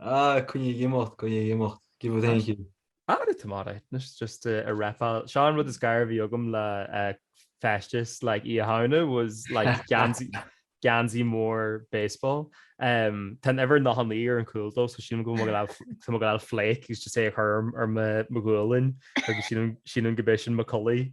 Ah, coinnigh ag imeacht, coinnigh ag imeacht. Give it thank you. Ah, rud tomada. It's just a a reptile. Seo an rud is gaire a bhí agam le feisteas like Oíche Shamhna was like geansaí geansaí mór baseball. Um tá uimhir nócha naoi ar an cúl dó so sílim go bhfuil tá mé ag gabháil flake is just é a chur ar mo ghualainn agus sílim sílim go mbeidh sin mo chulaith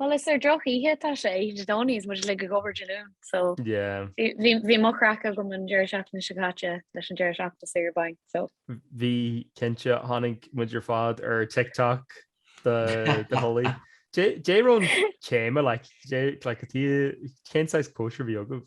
Bhuel is ar drochoíche atá sé oíche Dé Domhnaigh is muid uilig ag obair Dé Luain so bhí mo chraic agam an deireadh seachtaine seo caite leis an deireadh seachtaine saoire bainc so. Bhí cinnte, chonaic muid ar fad ar TikTok do chulaith. Dé raibh an téama like cén saghas cóisir a bhí agaibh?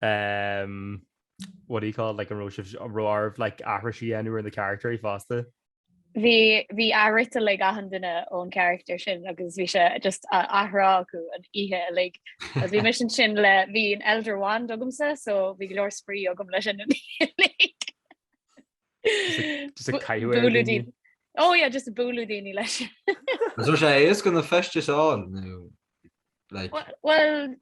um, what do you call it, like an raibh sibh an raibh arbh like aithris a dhéanamh ar na characters fosta? Bhí bhí abairt ag like achan duine ón character sin agus bhí sé just á athrá acu an oíche uilig. Agus bhí mise ansin le bhí an Elder Wand agamsa so bhí go leor spraoi agam leis an oíche uilig. Just ag caitheamh ar Bualadh daoine. daoine. Ó yeah, just ag bualadh daoine leis. Is raibh sé éasca na feistis a fháil nó like Well, well,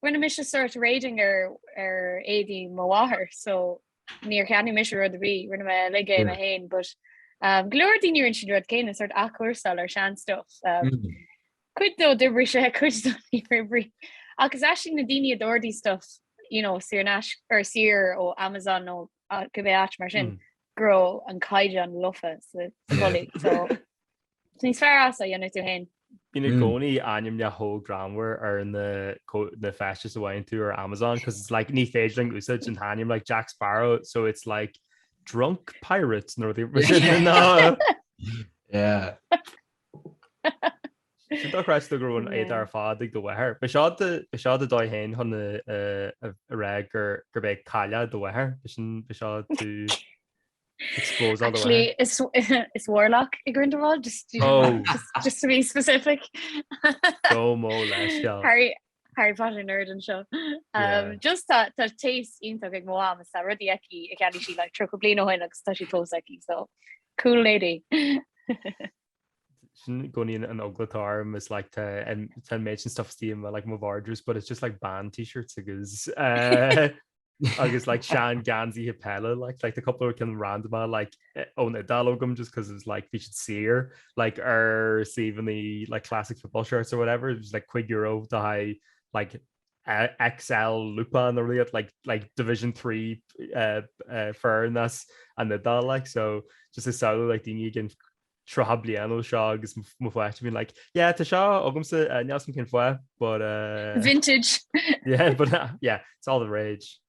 rinne mise sort raiding ar ar éadaí mo mháthar so níor cheannaigh mise rud ar bith, rinne mé uilig é mé fhéin but um go leor daoine rinne siad rud céanna, sort athchúrsáil ar shean stuff um cuid dó d'oibrigh sé cuid dó níor oibrigh agus is iad na daoine a d'ordaigh stuff you know saor in aisce or saor ó Amazon nó cibé áit mar sin go raibh an caighdeán lofa sa chulaith so. So níos fearr as é a dhéanamh tú féin. Bíonn i gcónaí ainmneacha greannmhar ar na feistis a bhfaigheann tú ar Amazon cos it's like ní féidir linn úsáid an t-ainm like Jack Sparrow so it's like drunk pirate nó rud mar sin ná Sin dochreidte go raibh na héadaí ar fad ag do mháthair. Ab é seo do dhóigh féin chun a rá gur gur b'é cailleach do mháthair. Ab é seo tú Expose all the way. Actually, is is Warlock é Grindelwald, just, you know, Oh. just, just to be specific. Gabh mo leithscéal. Harry, Harry Potter nerd anseo. Um, Yeah. Just tá tá taste iontach ag mo mham, is tá rudaí aici a cheannaigh sí like 30 bliain ó shin agus tá siad fós aici, so cool lady. sin i gcónaí an eagla atá orm is like tá an méid sin stuff istigh i mo like mo vardrús but it's just like band t-shirts agus uh, agus like sean geansaithe peile like like tá cúpla ceann random like ón Iodáil agam just because it's like bhí siad saor like ar suíomhanna like classic football shirts or whatever it was like cúig euro le haghaidh like XL lúpán ar iad like like division three foireann san Iodáil like so just ag samhlú like daoine i gceann 30 bliain ó seo agus mo pháiste being like yeah tá seo agamsa uh, níl 's agam cén fáth but uh, Vintage! yeah but uh, yeah it's all the rage.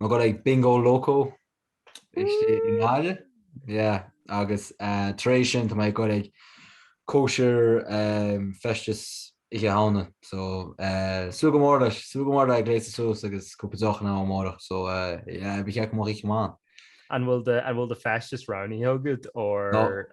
Mé ag goil ag Bingo Loco i nGaillimh, yeah, agus tar éis sin tá mé ag goil ag cóisir feisteas Oíche Shamhna, so súil go mór leis, súil go mór le gléasadh suas agus cúpla deoch ann amárach, so yeah, ba cheart go mbeadh oíche mhaith ann. An bhfuil do feisteas roghnaithe agat or?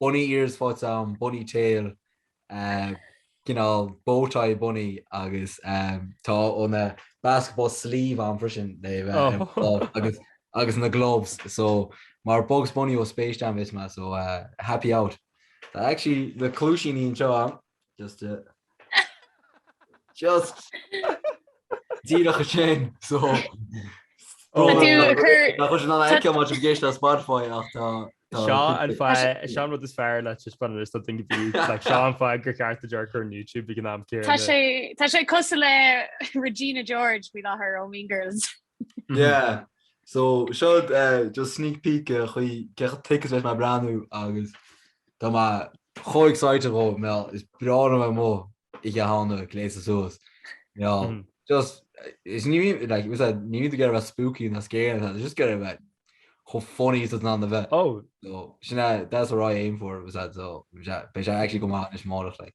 Bunny ears faighte agam, bunny tail, you know bow tie bunny agus tá ó na basketball sleeve agam freisin agus na gloves so mar Bugs Bunny ó Space Jam beidh mé so happy out. Tá actually na cluaisíní anseo agam. Just it. Just. Díreach ansin so. Tá sé nice má tá tú ag éisteacht le Spotify ach tá seo an fáth, sé an rud is fearr le taispeáint don like seo an fáth gur cheart daoibh dul ar YouTube ag an am céanna. Tá sé cosúil le Regina George bhí láthir ó Mean Girls. Yeah. So, seo just sneak peek ar an gcaoi a mbeidh mé ag breathnú agus tá mé chomh excited dhó mar is breá liom um Oíche Shamhna gléasadh suas. Just, is ní bhíonn, like, is that, ní bhíonn tú ag bheith spooky ná scary ná tá, just ag bheith chomh funny is atá tú in ann a bheith. Oh. So, sin é, that's what I aim for, is that, so, beidh sé actually go maith anois amárach, like.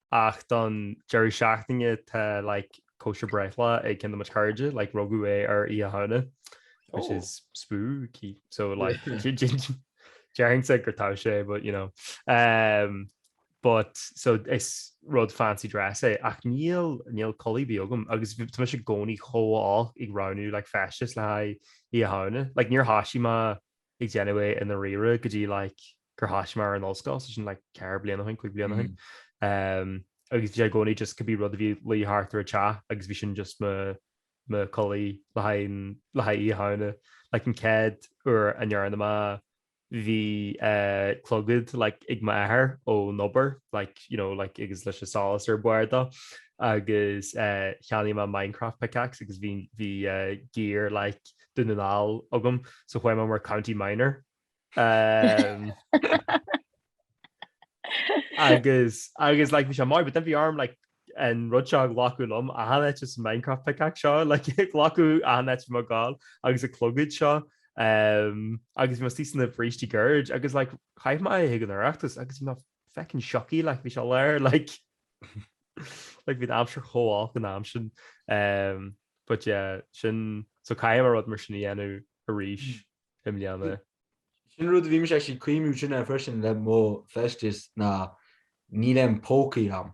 ach don deireadh seachtaine tá like cóisir breithlá ag cionn de mo chairde, like rugadh é ar Oíche Shamhna, which is spooky, so like déarfainnse go dtá sé, but you know. Um, but so is rud fancy dress é, ach níl, níl culaith ar bith agam, agus tá mise i gcónaí chomh olc ag roghnú like feistis le haghaidh Oíche Shamhna, like níor thoisigh mé ag déanamh é i ndáiríre go dtí like gur thoisigh mé ar an ollscoil so sin like ceithre bliana ó shin, cúig bliana ó shin. Ehm agus bhí sé i gcónaí just cibé rud a bhí ina luí thart ar an teach agus bhí sin just mo mo culaith le haghaidh le haghaidh Oíche Shamhna. Like an chéad uair a ndearna mé é bhí eh clogad like ag m'athair ón obair like you know like agus leis an solas ar bharr dó agus eh cheannaigh mé Minecraft pickaxe agus bhí bhí eh gear like Dún na nGall agam so chuaigh mé mar county minor? Agus agus like bhí sé maith but then bhí orm like an rud seo a ghlacadh liom achan áit just an Minecraft pickaxe seo like a ghlacadh achan áit ar mo ghualainn agus an clogad seo agus bhí mé i mo shuí sna bhrístí goirid agus like chaith mé é chuig an Oireachtas agus bhí mé Feckin sioctha like bhí sé really like like bhí an aimsir chomh olc an am sin um but yeah sin so caithfidh mé rud mar sin a dhéanamh arís i mbliana. Sin rud a bhí mise actually ag cuimhniú ar sin freisin le mo feisteas ná níl aon pócaí ann.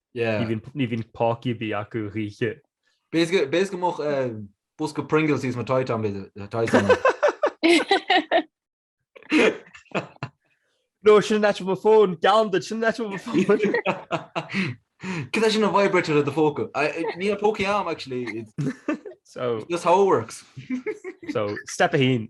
Ní bhíonn pócaí ar bith acu choíche. B'fhéidir go mbeadh bosca Pringles thíos mo Titan b'fhéidir. No, sin an áit mo fón, geallaim duit, sin an áit mo fón. Cad é sin an vibrator i do phóca? Níl pócaí ann actually, it's just how it works. So, step a haon.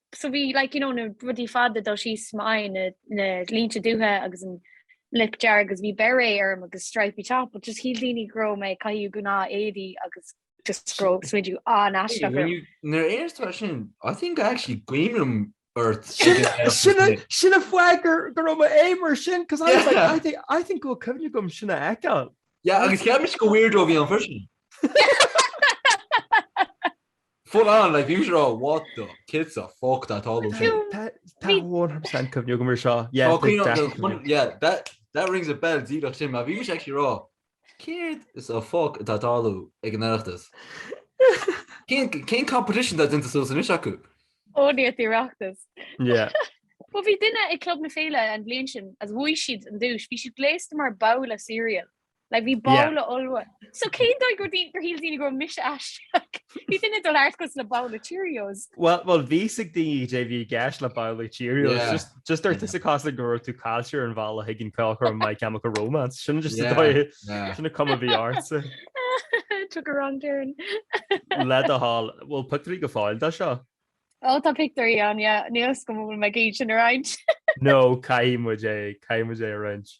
so bhí like you know na rudaí fada ag dul síos m'aghaidh na na línte dubha agus an lip dearg agus bhí beret orm agus stripy top but just shíl daoine go raibh mé ag caitheamh gnáthéadaí agus just go raibh smideadh an-aisteach orm. Nuair a deireas tú sin I think I actually cuimhin liom ort Sin a fhógair go raibh mimer sin cos I was like I think I think go bhfuil cuimhne agam sin a fheiceáil. Yeah agus cheap muid gur weirdo a bhí ann freisin. Full on, like usual, what the céard sa fuck atá ag tarlú ansin. Tá 100% cuimhne agam ar seo. Yeah, Oh, cuimhne agam, definitely. cuimhne- yeah, that, that rings a bell díreach sin, mar bhí mise actually ag rá, céard sa fuck atá ag tarlú ag an Oireachtas? Cén, cén competition atá déanta suas anois acu? Only ag an Oireachtas. Yeah. Bhuel, bhí duine ag Club na Féile an bhliain sin, is bhuaigh siad an duais, bhí siad gléasta mar bowl of cereal. Like bhí bowl ollmhór. So cén dóigh gur gur shíl daoine go raibh mise aisteach? Bhí duine ag dul thart cosúil le bowl of Cheerios. Well well bhí a fhios ag daoine cad é a bhí i gceist le bowl of Cheerios. Just just d'amharc tusa cosúil le go raibh tú caillte ar an bhealach chuig an ceolchoirm My Chemical Romance. Sin just an dóigh sin an cuma bhí ortsa. Took a wrong turn. Le do thoil, bhfuil pictiúirí go fóill de seo? Ó tá pictiúirí ann yeah. Níl a fhios agam an bhfuil mé ag iarraidh sin a roinnt. No caithfidh muid é caithfidh muid é a roinnt.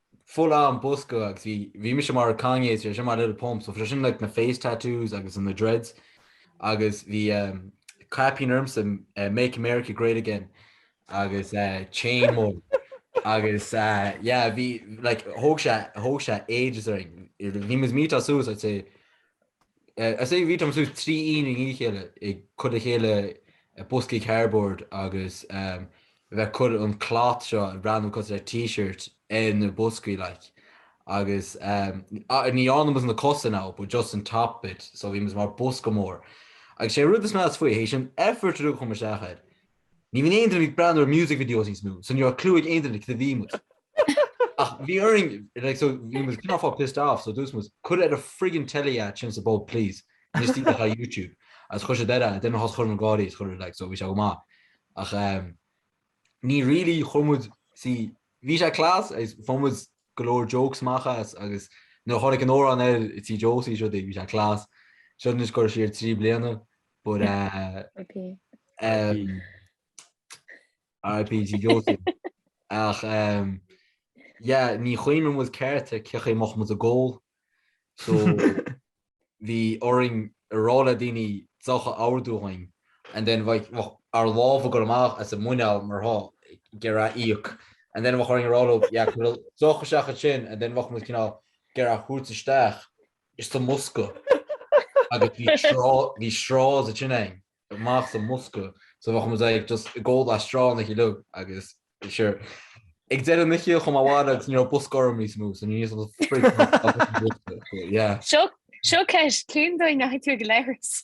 full on bosca agus bhí bhí mise mar Kanye agus eisean mar Lil Pump, so bhí sé sin like na face tattoos agus na dreads agus bhí um caipín ormsa eh make America great again agus eh chain mór agus eh yeah bhí like thóg sé thóg sé ages orainn, bhí muid suas I'd say I'd say bhí muid suas trí oíche i ndiaidh a chéile ag cur le chéile boscaí cardboard agus bheith ag cur an cloth seo ag breathnú cosúil le T-shirt ar na boscaí like agus ní dhearna muid na cosa now but just an top bit so bhí muid mar bosca mór agus sé rud is measa faoi, th'éis an effort ar fad a chuir muid isteach air, Ní bhíonn aon duine ag breathnú ar music videos níos mó, so ní raibh clue ag aon duine cad a bhí muid. Ach bhí orainn, like, so bhí muid kind of pissed off, so dúirt muid, cuir ar an friggin telly é ansin sa bpub please. Just stick ar YouTube. Agus chuir siad air é, then thosaigh chuile dhuine ag gáirí is chuir like, so bhí sé go maith. Ach um, ní really chuir muid, see, bhí sé class, is fuair muid go leor jokes amach as agus nuair a tháinig an t-amhrán air Tigh Josie so bhí sé class. Seo is chuir siad trí bliana. But RIP G Josie. Ach yeah, ní chuimhním i gceart cé a chaith amach muid, a ghabháil. So bhí orainn a rá le daoine deoch a ordú dhúinn and then bheadh ár lámha ag gabháil amach as an muineál mar tá ag iarraidh íoc and then bheadh orainn a rá leo yeah, cuir deoch isteach ansin and then bheadh muid cineál ag iarraidh a thabhairt isteach Isteach sa mbosca. Agus bhí straw, bhí straws ag tíocht amach sa mbosca, so bheadh muid ag just ag ól le straw like you look agus sure. Ag deireadh na hoíche chuaigh mé abhaile agus ní raibh bosca orm níos mó, so ní raibh frig. Yeah. Seo, seo ceist, cén dóigh a ndeachaigh tú go leithreas?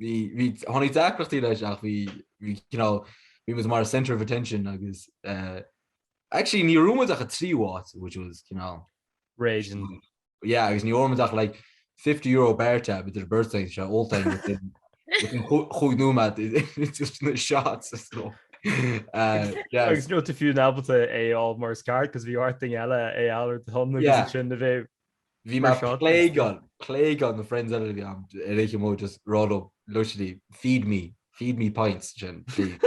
Bhí, tháinig deacrachtaí leis ach bhí, bhí, you know, bhí muid mar centre of attention agus eh, actually ní raibh muid ach tríú háit which was, you know, Raging. yeah, agus ní raibh muid ach like €50 bar tab idir beirt againn, so ólta within, within chú- cúig nóiméad i- just sna shots so eh, yeah, Agus ní raibh tú fiú in ábalta é a fháil mar is ceart, 'cause bhí ort duine eile é a fháil ar do shon agus Yeah. ansin a bheith Bhí mé plagueáil, plagueáil na friends eile a bhí ann ar an oíche, mé just ag rá leo literally feed me, feed me pints sin please.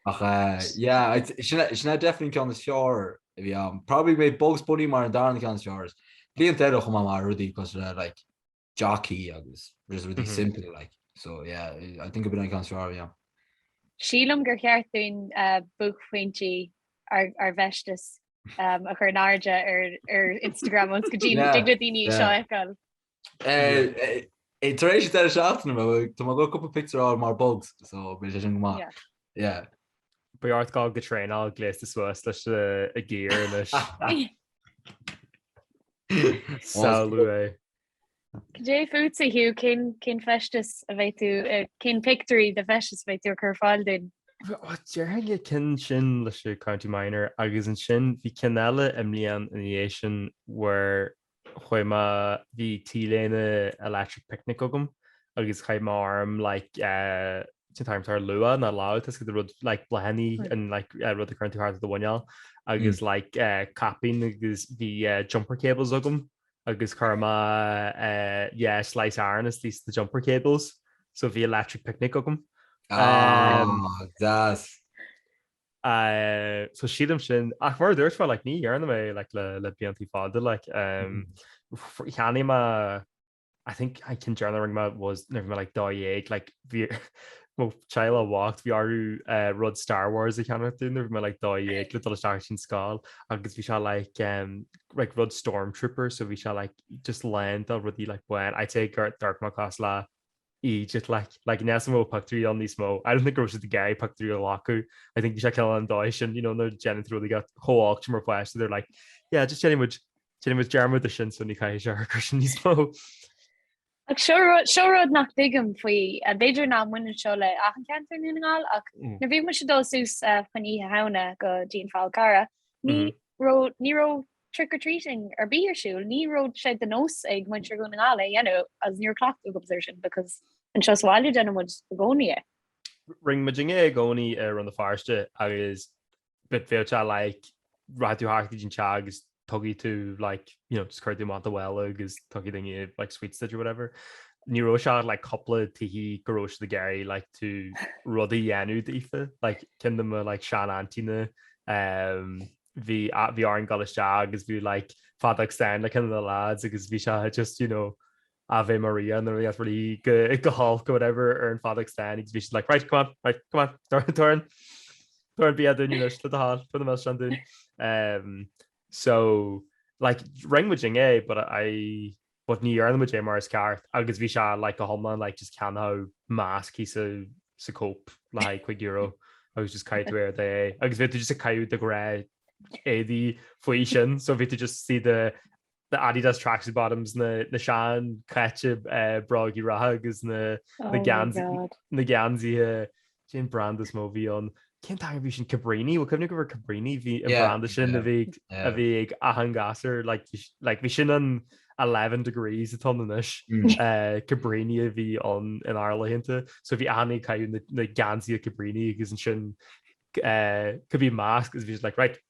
Ach eh yeah I'd say sin sin é definitely an ceann is fearr a bhí ann. Probably mé Bugs Bunny mar an darna ceann is fearr agus blianta eile chomh maith mar rudaí cosúil le like jockey agus just rudaí simplí like so yeah I think b'in an ceann is fearr yeah. Sílim gur cheart dúinn buaicphointí ár bhfeisteas a chur in airde ar Instagram ionas go dtig le daoine seo a fheiceáil. Tar éis an deireadh seachtaine bhuel tá mé ag gabháil cúpla pictiúr a fháil mar bugs so beidh sé sin go maith. Yeah. Yeah. Beidh ort gabhail go traenáil gléasta suas leis a gear anois. Samhlaigh é. Cad é fútsa, Hugh, cén, cén feisteas a bheidh tú, eh, cén pictiúirí de fheisteas a bheidh tú ag cur ar fáil dúinn? Bhuel, déarfainn an cinn sin leis an County Minor agus ansin bhí cinn eile i mbliain ina dhiaidh sin where chuaigh mé, bhí T-léine Electric Picnic agam agus chaith mé orm like eh, an t-am tar luath den lá, níl a fhios cad é rud like bláthanna and like eh, rud a cuireann tú thart do mhuineál agus like eh, caipín agus bhí eh, jumper cables agam agus chuir mé yeah slice iron is these the jumper cables so bhí electric picnic agam. Ah deas. So sílim sin ach mar a dúirt mé like ní dhearna mé like le le blianta fada like umm cheannaigh mé I think an cinn deireanach a rinne mé was nuair bhí mé like dó dhéag like bhí Mo shaol bocht, bhí orthu rud Star Wars a cheannach dúinn nuair a bhí mé like 12 le dul isteach chun na scoile agus bhí sé like like rud Stormtrooper so bhí sé like just lán d'éadaí like bán. I'd say gur dhearc mé cosúil le eejit like níl níos mó pictiúirí ann níos mó. I don't think go raibh siad ag iarraidh pictiúirí a ghlacadh. I think bhí sé cineál an dóigh sin you know nuair a ghní tú rudaí atá chomh olc sin mar pháiste they're like yeah just déanfaidh muid déanfaidh muid dearmad de sin so ní chaithfidh sé a chluinstin níos mó. Ach seo rud, seo rud nach dtuigim faoi, b'fhéidir nach mbaineann seo le achan cheantar i nDún na nGall, ach nuair a bhí muid ag dul suas fá choinne Oíche Shamhna go dtí an Fál Carrach, ní raibh, ní raibh trick or treating ar bith ar siúl, ní raibh sé de nós ag muintir Dhún na nGall é a dhéanamh agus ní raibh cleachtadh agamsa ar sin because anseo sa bhaile déanann muid i gcónaí é. Rinne muidinne é i gcónaí i Rann na Feirste agus but féach, like rachaidh tú thart go dtí an teach agus tugann tú like you know just cuir tú amach do mhála agus tugann duine like sweets duit or whatever. Ní raibh, bhí like cúpla tithe go raibh siad ag iarraidh like tú rud a dhéanamh daofa like ceann de mo like sean aintína ehm bhí bhí orainn gabháil isteach agus bhí like feadóg stáin le ceann de na lads agus bhí sé just you know Ave Maria nuair a dhéanfadh really go holc or whatever ar an fheadóg stáin agus bhí siad like, 'Right, come on, right, come on, tabhair, tabhair, tabhair an bia dúinn anois, tabhair do sháil, tabhair do milseán dúinn. Umm so like rinn muidinne é but, but ní dhearna muid é mar is ceart agus bhí sé like go hiomlán like just ceann de na mascanna sa Cope le haghaidh cúig euro agus just chaith tú ort é agus bhí tú just ag caitheamh do ghnáthéadaí faoi sin so bhí tú just see the na Adidas tracksuit bottoms, na seanchaite brógaí reatha agus na geansaithe, cén brand is mó bhí ann? Cén ceann a bhí sin? Cabrini? Bhuel cuimhnim go raibh Cabrini an branda sin a bhí ag achan gasúr, like bhí sin an eleven degrees atá ann anois, Cabrini a bhí ann inár laethanta, so bhí achan nduine ag caitheamh na geansaithe Cabrini agus ansin could be masc agus bhí siad like right,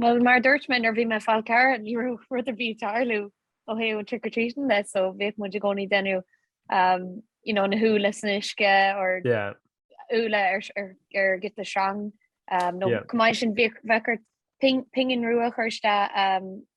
Bhuel, mar a dúirt mé nuair a bhí mé ar an Fhál Carrach, ní raibh rud ar bith ag tarlú ó thaobh an trick or treating de, so bhíodh muid i gcónaí ag déanamh you know na húlla san uisce or úlla ar ghiota sreang nó chomh maith leis sin bhíodh bheadh ort pingin rua a chur isteach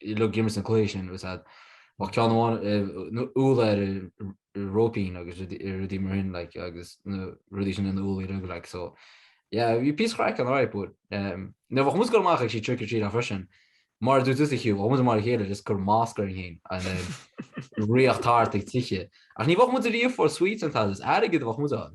d'imreoimis na cluichí sin agus a, bheadh ceann amháin nó úlla ar an róipín agus rudaí mar sin like agus na rudaí sin ina úllaí againn like so yeah bhí píosa craic ann alright but um now bheadh muid ag dul amach ag trick or treatáil freisin mar a dúirt tú Hugh bheadh muid amach le chéile just cur masc orainn féin and then ag rith thart ag tighe ach ní bheadh muid ag iarraidh puinn sweets an t-am sin, airgead a bheadh muid ann.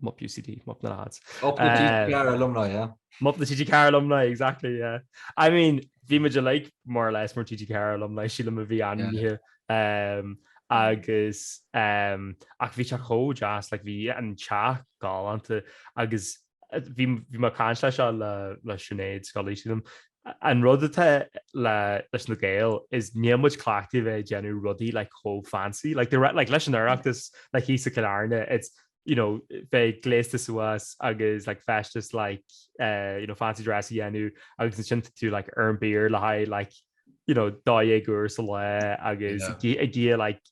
Mup UCD, Mup na Lads. Mup na TG Ceathair Alumni, yeah. Mup na TG Ceathair Alumni, exactly, yeah. I mean, bhí muid uilig more or less mar TG Ceathair Alumni, sílim a bhí ainmnithe. Um, agus, um, ach bhí sé chomh deas, like, bhí an teach galánta agus eh, bhí mé ag caint leis, eh, le, le Sinéad Scully, sílim, An rud atá leis na Gaeil is níl muid cleachtaithe bheith ag déanamh rudaí like chomh fancy, like the like leis an Oireachtas like thíos i gCill Airne it's you know bheith gléasta suas agus like feisteas like eh you know fancy dress a dhéanamh agus ansin tú like ar an beer le haghaidh like you know dó dhéag uair sa lá agus ag ag iarraidh like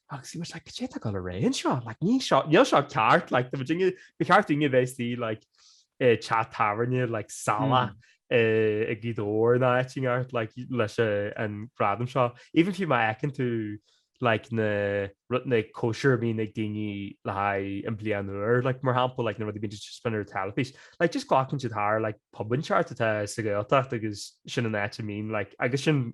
Agus bhí muid like 'cad é atá ag gabháil ar aghaidh anseo? Like níl seo, níl seo ceart, like tá muidinne, ba cheart dúinne a bheith istigh like i teach tábhairne like salach eh, i nGaoth Dobhair nó áit inteacht like leis eh, an gradam seo. Even fiú má fheiceann tú like na rud na cóisir a bhíonn ag daoine le haghaidh an bliain úr like mar shampla like na rud a bhíonn just bíonn ar teilifís like just glacann siad thar like pub inteacht atá sa Ghaeltacht agus sin an áit a mbíonn like agus sin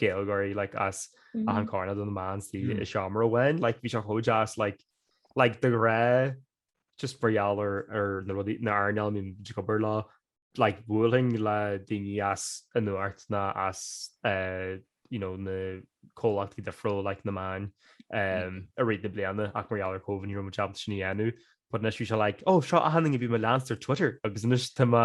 Gaeilgeoirí like, as achan coirnéal de na meáin istigh i seomra amháin, like, bhí sé chomh deas like, like, de ghnáth just mar gheall ar ar na rudaí, na hearnáil a mbíonn tú ag obair leo like, bhuailfinn le daoine as an Nuacht nó as eh, you know, na comhlachtaí difriúla like, na meáin em, i rith na bliana ach mar gheall ar Covid ní raibh muid ábalta sin a dhéanamh but anois bhí sé like, oh seo achan duine a bhí mé ag leanstan ar Twitter agus anois tá mé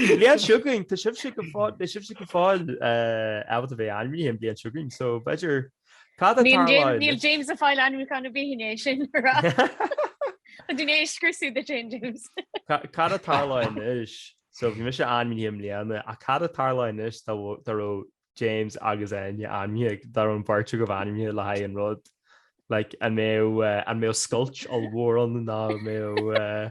Sa bhliain seo chugainn, tá sibhse go fóill, beidh sibhse go fóill ábalta a bheith ainmnithe an bhliain seo chugainn, so b'fhéidir cad atá Níl James, ann? níl James ag fáil ainmniúchán ar bith i ndiaidh sin a rá. Tá tú i ndiaidh é a scriosadh duit féin, James. Ca- Cad a tharlódh anois? So bhí mise ainmnithe i mbliana, ach cad a tharlódh anois dá bhó- dá raibh James agus Áine ainmnithe, dá raibh an bheirt agaibh ainmnithe le haghaidh an rud? Like, an mbeadh, eh, an mbeadh scoilt ollmhór ann nó an mbeadh, eh,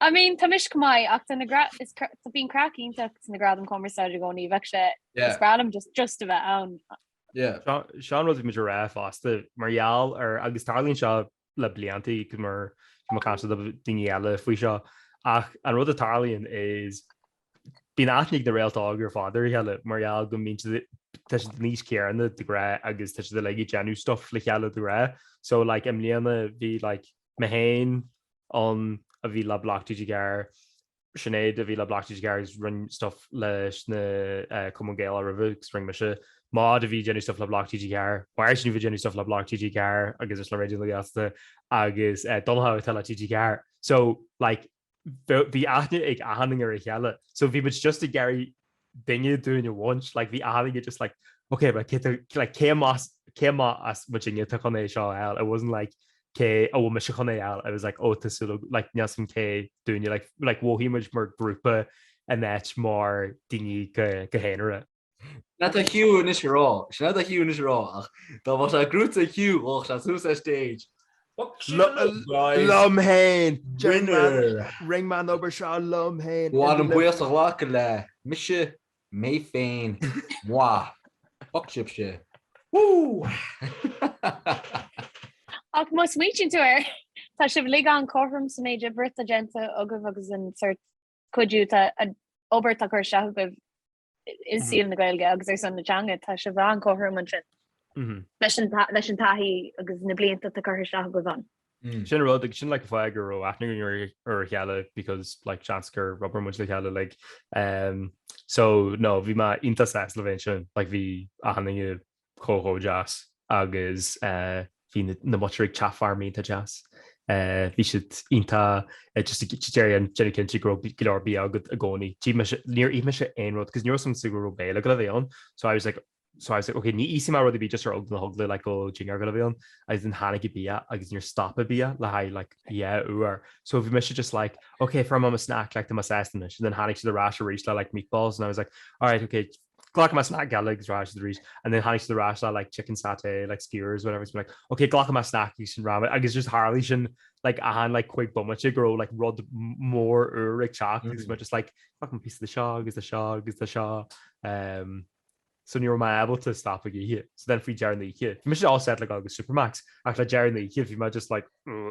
I mean tá mise chomh maith ach tá na gradaim is tá bíonn craic iontach sna gradaim cumarsáide i gcónaí bheadh sé yeah. is breá liom just just a bheith ann. Yeah. Seo an, seo an rud a bhí muid ag rá fosta mar gheall ar agus tarlaíonn seo le bliantaí cause bhí mé ag caint le daoine eile faoi seo ach an rud a tarlaíonn is bíonn aithne ag na Réalt Óg ar fad ar a chéile mar gheall go mbíonn siad an aois céanna de ghnáth agus tá siad uilig ag déanamh stuff le chéile de ghnáth so like, i mbliana bhí like, mé féin ann a bhí le Bloc TG4, Sinéad a bhí le Bloc TG4 agus rinn stuff leis na Cumann Gaelach roimhe agus rinn mise, Maud a bhí ag déanamh stuff le Bloc TG4, Máirtín a bhí ag déanamh stuff le Bloc TG4 agus is le Raidió na Gaeltachta agus Donncha atá le TG4. So, like. bhí aithne ag achan duine ar a chéile, so bhí muid just ag iarraidh duine dúinn a bhaint, like bhí achan duine just like ok but cé tá, like cé más, cé má as muidinne atá chun é seo a fháil, it wasn't like cé, an bhfuil mise chun é a fháil, it was like oh tá súil agam, like níl a fhios agam cé dúinne, like like mhothaigh muid mar grúpa in áit mar daoine go haonarach. Sin é atá Hugh anois a rá. Sin é atá Hugh anois a rá, ach dá mba sé grúpa Hugh ghabhfadh sé suas ar stage. Fuck sí an rud, guys! Liom féin! Winner! Rinn mé an obair seo liom féin! Ba mhaith liom buíochas a ghlacadh le mise, mé féin. Moi! Fuck sibhse! Ach má smaoitíonn tú air, tá sibh uilig an-chothrom sa méid oibre atá déanta agaibh agus an sort. cuidiú, tá an obair atá curtha isteach agaibh i saol na Gaeilge agus ar son na teanga, tá sibh an-chothrom ansin leis an leis an taithí agus na blianta atá curtha isteach agaibh ann. Sin an rud, agus sin like an fáth go raibh aithne againn ar a chéile because like seans gur oibir muid le chéile like. So no, bhí mé iontach sásta le bheith ansin, like bhí achan duine chomh chomh deas agus bhí na muintir ag teacht thart iontach deas. Bhí siad iontach just ag déanamh cinnte go raibh go leor bia agat i gcónaí. D'ith mise, níor ith mise aon rud cos ní raibh a fhios agamsa go raibh béile ag gabháil a bheith ann so I was like so I was like ok ní íosfaidh mé rud ar bith just ar eagla na heagla like go raibh dinnéar ag gabháil a bheith ann agus then tháinig an bia agus níor stop an bia le haghaidh like yeah uair so bhí mise just like ok fuair mé mo snack like tá mé sásta anois and then tháinig siad ar ais arís le like meatballs and I was like alright ok Glacfaidh mé snack beag eile ar ais arís and then tháinig siad ar ais le like chicken satay like skewers whatever agus bhí mé like ok glacfaidh mé snack agus sin a raibh ann agus just tharlaigh sin like achan like cúig bomaite go raibh like rud mór úr ag teacht agus mé just like glacaim píosa de seo agus de seo agus de seo um so ní raibh mé ábalta stop ag ithe so then faoi deireadh na hoíche bhí mise all set le gabháil go Supermac's ach le deireadh na hoíche bhí mé just like ugh.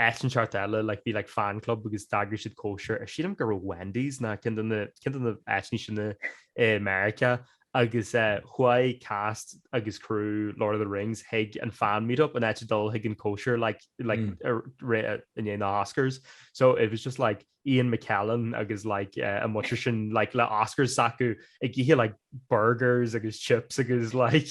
Áit inteacht eile like bhí like fan club agus d'eagraigh siad cóisir ar sílim gur Wendy's nó ceann de na ceann de na áiteanna sin i i Meiriceá agus eh chuaigh cast agus crew Lord of the Rings chuig an fan meetup in áit dul chuig an cóisir like like ar ré a i ndiaidh na Oscars. So it was just like Ian McKellen agus like eh an muintir sin like le Oscars s'acu ag ithe like burgers agus chips agus like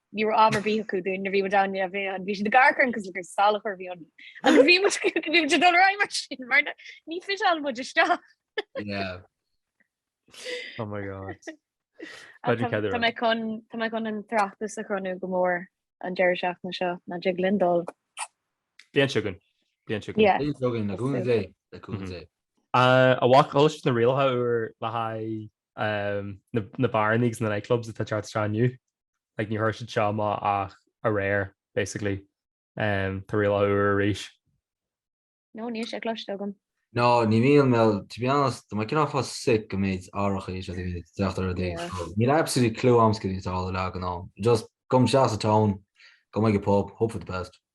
Ní raibh am ar bith acu dúinn a bhí muid ann a bhí ann. Bhí siad ag amharc orainn cosúil gur salachar a bhí ann. Agus bhí muid bhí muid ag dul ar aghaidh mar sin mar na ní fiseáil muid isteach. Yeah. Oh my God. Tá Paidir Ceadaire. tá mé chun tá mé chun an tráchtas a chruthú go mór an deireadh seachtaine seo ná dtig linn dul. Bliain seo chugainn. Bliain seo chugainn. Yeah. Bliain seo chugainn le cúnamh Dé, le cúnamh Mhm. Dé. Ah, a mhac, ar chuala sibh na rialacha úr le haghaidh na beáranna agus na nightclubs atá ag teacht isteach inniu, like níor chuir siad seo amach ach aréir basically. Tá rialacha úr arís. No, níl sé cloiste agam. No, ní bhíonn mé, to be honest, tá mé cineál fá sick go mbead árach arís agus go mbead teacht ar rud éigin fadó. Níl absolutely clue a'm céard atá á rá ag an am. Just gabhaim isteach sa town, gabhaim ag an pub, hope for the best.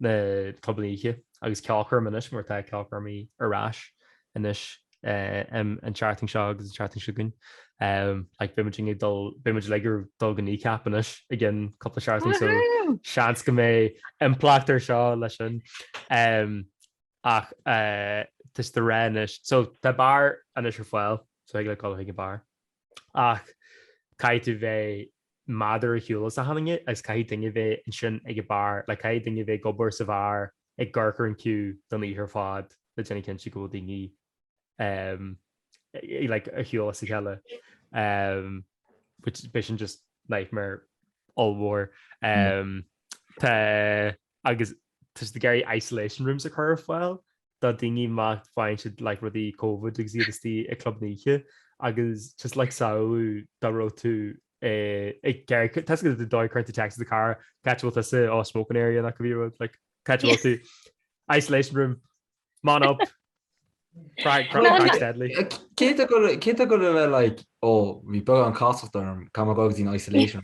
na clubanna oíche agus ceolchoirm anois mar tá ceolchoirmí ar ais anois em an tseachtain seo agus an tseachtain seo chugainn em like beidh muid ag dul beidh muid ag dul go Kneecap anois i gceann cúpla seachtain so seans go mbeidh impleacht ar seo leis sin em ach eh, tá siad ag rá anois so tá bar anois ar fáil so tig leat gabháil ag an bar ach caithfidh tú bheith méadar ar shiúl as achan duine agus caithfidh duine bheith ansin ag an bar, like caithfidh duine bheith ag obair sa bhar ag amharc ar an queue don oíche ar fad le déanamh cinnte go bhfuil daoine ehm like ar shiúl as a chéile ehm which bheadh sin just nightmare ollmhór ehm tá agus tá siad ag iarraidh isolation rooms a chur ar fáil do dhaoine má bhfaigheann siad like rudaí covid agus iad istigh i club na hoíche agus just like samhlaigh dá raibh tú ag gearr tusa go dtí dóigh chuirte text a cara cá háit a bhfuil tusa sa smoking area nach go bhí rud like cá háit a bhfuil tú isolation room man up Cé atá ag gabháil a bheith like ó bhí beagán casacht orm gabhaim go dtí an isolation.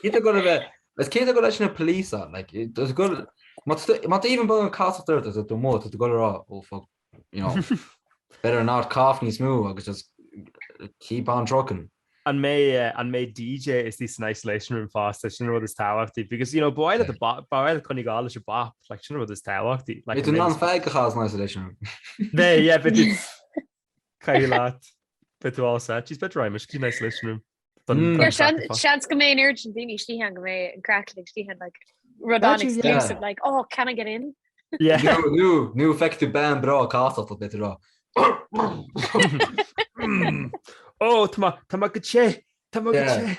Cé go bheith Is cinnte go leis na police, like, there's a good, má tú, má tú even beagán casacht ort do mó, tá tú ag gabháil a rá, oh fuck, you know, better not cough níos mó agus just keep on trucking. An mbeidh, eh, an mbeidh DJ istigh san isolation room fosta, sin an rud is tábhachtaí, because, you know, ba mhaith leat an bop, ba mhaith leat coinneáil ag gabháil leis an bop, like, sin an rud is tábhachtaí, like, Beidh tú an mbeidh, an-fheigh go chaith san isolation room. beidh, yeah, beidh tú, Caí leat bit tú á set, She's bit raimis cí isolation room. Seans go mbeidh air an daine tí an go mbeidh an craic uilig istigh ann like rud an-exclusive like oh can I get in? Yeah nu nu feic tú bean bhreá cá a bit ra. ó Tá go sé Tá go sé.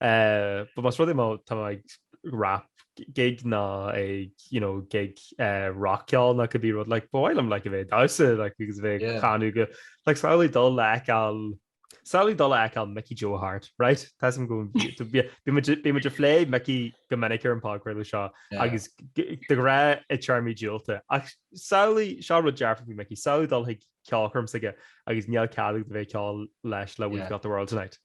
But más rud é má tá mé ag rap gig ná ag you know gig rock ceoil ná could be rud like ba mhaith liom like a bheith ag damhsa like agus a bheith ag canadh go like samhlaigh dul a fheiceáil samhlaigh dul a fheiceáil Mickey Joe Harte right tá's-am go bhfuil muid bíonn muid ag plé Mickey go minic ar an podchraoladh seo agus de ghnáth i dtéarmaí diúltach ach samhlaigh seo rud dearfach faoi Mickey samhlaigh dul chuig ceolchoirm s'aige agus níl cead agat a bheith ag ceol leis le We've Got The World Tonight.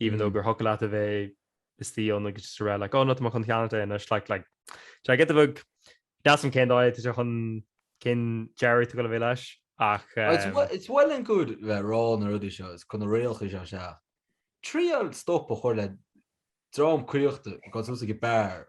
even though gur thiocfadh leat a bheith istigh ann agus just ag rá like oh no tá mé chun ceannacht é anois like like do I get the bug? Níl a fhios agam cén dóigh tá sé chun cén deireadh atá ag dul a bheith leis ach It's eh. it's well and good bheith ag rá na rudaí seo is chun na rialacha seo isteach triail stop a chur le dream caochta ag dul suas ag an bar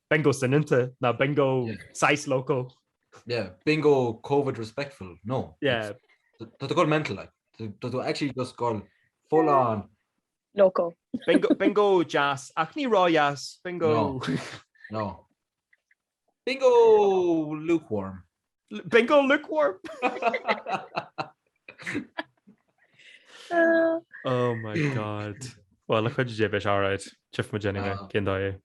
Bingo soineanta ná bingo saghas loco. Yeah, bingo Covid respectful, no. Yeah. Tá tú go mental like. Tá tú actually just go full on. Loco. Bingo, bingo deas, ach ní ró-dheas, bingo. No, no. Bingo lukewarm. Bingo lukewarm! Oh my god. Well, look it, beidh sé alright. Tchífidh muid déanaí mé, cén dóigh é?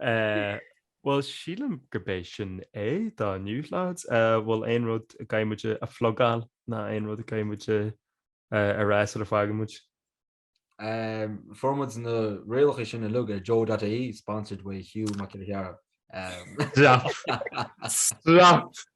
Eh, bhuel, sílim gurb é sin é do inniu, lads. Eh, bhfuil aon rud a gcaithfidh muid a phlugáil ná aon rud a gcaithfidh muid a rá sula bhfágann muid. Eh, fuair muid na rialacha sin uilig ó Joe.ie, sponsored by Hugh Mac Giolla Chearra. Eh. Stop! Stop!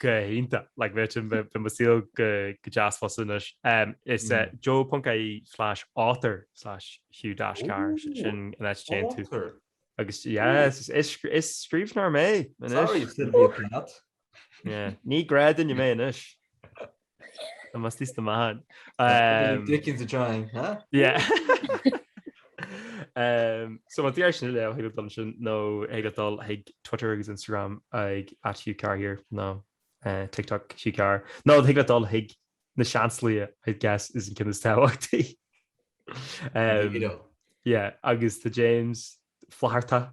Go hiontach! Like bheadh sin, bheadh mo shaol go deas fosta anois. Is é joe.ie slash author slash hugh dash carr sin an áit a dtéann tú. Author? Agus yes, is scríbhneoir mé anois. Sorry, Sylvia Plath. Yeah, ní gnáthdhuine mé anois. Tá mé istigh sna meáin. Dickens a trying, huh? Yeah. um, so má tá tú ag iarraidh sin a léamh thig leat dul ansin nó thig leat dul chuig Twitter agus Instagram ag at Hugh Carr here nó uh, TikTok Hugh Carr. nó thig leat dul chuig Na Seansálaithe I guess is an ceann is tábhachtaí. um, yeah, agus tá James flaharta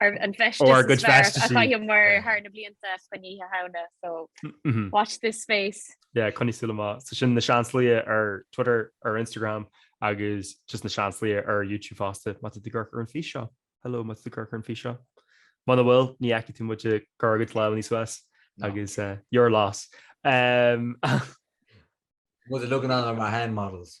Ar an bhfeistis Ó, ár gcuid is fearr feistis a chaith muid Yeah. thar na blianta chun oíche Shamhna, so Mhm. watch this space. Yeah, coinnigh súil amach. So sin Na Seansálaithe ar Twitter, ar Instagram agus just Na Seansálaithe ar YouTube fosta má tá tú ag amharc ar an fís seo. Hello má tá tú ag amharc ar an fís seo. Muna bhfuil, ní fheicfidh tú muid ag cur ár gcuid lámhannaí suas No. agus eh, your loss. Em, Muid ag ligean orainn gur hand models.